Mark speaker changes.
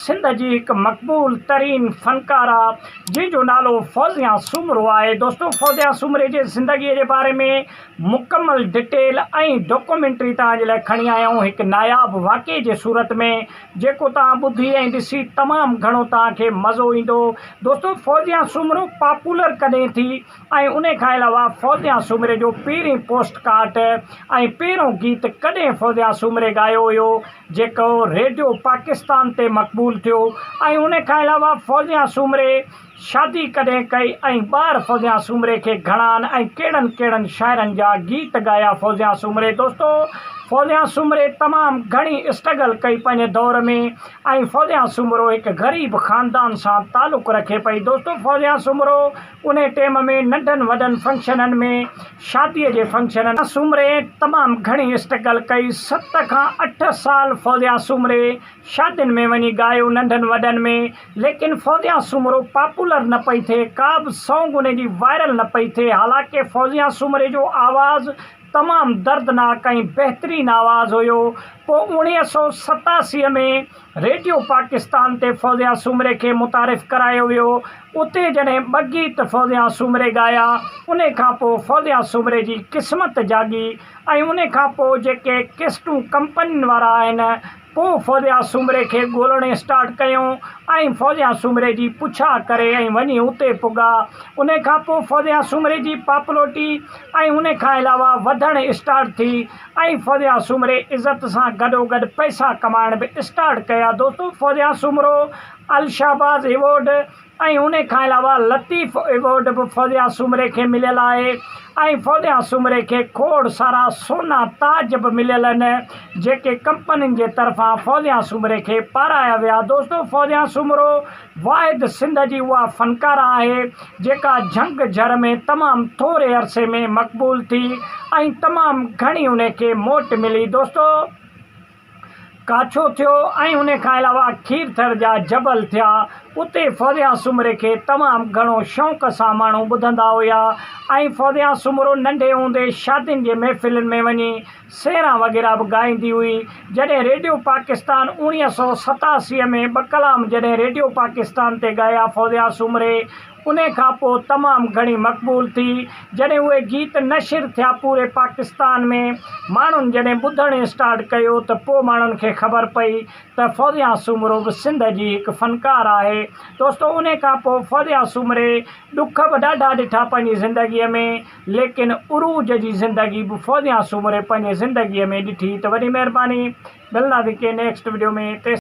Speaker 1: سنڌ جي هڪ مقبول ترين فنڪاره جنهن جو نالو فوزيه سومرو آهي دوستو فوزيه سومري جي زندگي جي باري ۾ مڪمل ڊٽيل ۽ ڊاڪومينٽري توهان جي لاء کڻي آيا آهيون هڪ ناياب واقعي جي صورت ۾ جيڪو توهان ٻڌي ۽ ڏسي تمام گهڻو توهان کي مزو ايندو دوستو فوزيه سومرو پاپولر ڪڏهن ٿي ۽ انهي کان علاوه فوزيا سومري جو پهرين پوسٽ ڪارڊ ۽ پهريون گيت ڪڏهن فوزيا سومري ڳايو هيو جيڪو ريڊيو پاڪستان تي مقبول ٿيو ۽ انهي کان علاوه فوزيا سومري شادي ڪڏهن ڪئي ۽ ٻار فوزيا سومري کي گهڻا آهن ۽ ڪهڙن ڪهڙن شاعرن جا گيت ڳايا فوزيا سومري دوستو فوزيا سومري تمام گهڻي اسٽرگل ڪئي پنهنجي دور ۾ ۽ فوزيا سومرو هڪ غريب خاندان سان تعلق رکي پئي دوستو فوزيا سومرو انهيء ٽيم ۾ ننڍن وڏن فنڪشنن ۾ شاديء جي فنڪشنن ۾ سومري تمام گهڻي اسٽرگل ڪئي ست کان اٺ سال فوزيا سومري شادين ۾ وڃي ڳايو ننڍن وڏن ۾ ليڪن فوزيا سومرو پاپولر نه پئي ٿئي ڪابه سونگ انهي جي وائرل نه پئي ٿئي حالانڪه فوزيا سومري جو آواز تمام دردناڪ ۽ بهترين آواز هيو پوء اوڻيهه سؤ ستاسي ۾ ريڊيو پاڪستان تي فوزيا سومري کي متعارف ڪرايو ويو، اتي جڏهن ٻه گيت فوزيا سومري ڳايا، ان کان پوء فوزيا سومري جي قسمت جاڳي ۽ ان کان پوء جيڪي ڪيسٽون ڪمپنين وارا آهن، ڪو فوزيا سومري کي ڳولڻ اسٽارٽ ڪيو ۽ فوزيا سومري جي پڇا ڪري ۽ وڃي اتي پڳا، ان کان پوء فوزيا سومري جي پاپلوٽي ۽ ان کان علاوه وڌڻ اسٽارٽ ٿي. ۽ فوزيا سومري عزت سان گڏوگڏ پئسا ڪمائڻ به اسٽارٽ ڪيا دوستو فوزيا سومرو الشهباز ايوارڊ ۽ ان کان علاوه لطيف ايوارڊ به فوزيا سومري کي مليل آهي ۽ فوزيا سومري کي کوڙ سارا سونا تاج به مليل آهن جيڪي ڪمپنين جي طرفان فوزيا سومري کي پارايا ويا دوستو فوزيا سومرو واحد سنڌ جي اها فنڪاره آهي جيڪا جهنگ جهر ۾ تمام ٿوري عرصي ۾ مقبول ٿي ۽ تمام گهڻي ان کي موٽ ملي دوستو ڪاڇو ٿيو ۽ ان کان علاوه کير ٿر جا جبل ٿيا اتي فوزيا سومري کي تمام گهڻو شوق سان ماڻهو ٻڌندا هيا ۽ فوزيا سومرو ننڍي هوندي شادين جي محفلن ۾ وڃي سيران وغيره به ڳائيندي هئي. جڏهن ريڊيو پاڪستان اوڻيهه سؤ ستاسي ۾ ٻه ڪلام جڏهن ريڊيو پاڪستان تي ڳايا فوزيا سومري انهي کان پوء تمام گهڻي مقبول ٿي جڏهن اهي گيت نشر ٿيا پوري پاڪستان ۾ ماڻهن جڏهن ٻڌڻ اسٽارٽ ڪيو ته پوء ماڻهن کي خبر پئي ته فوزيا سومرو به سنڌ جي هڪ فنڪار آهي دوستو انهي کان پوء فوزيا سومري ڏک به ڏاڍا ڏٺا پنهنجي زندگي ۾ ليڪن عروج جي زندگي به فوزيان سومري پنهنجي زندگي ۾ ڏٺي ته وڏي مهرباني ملنداسين ڪي نيڪسٽ وڊيو ۾ تيسين.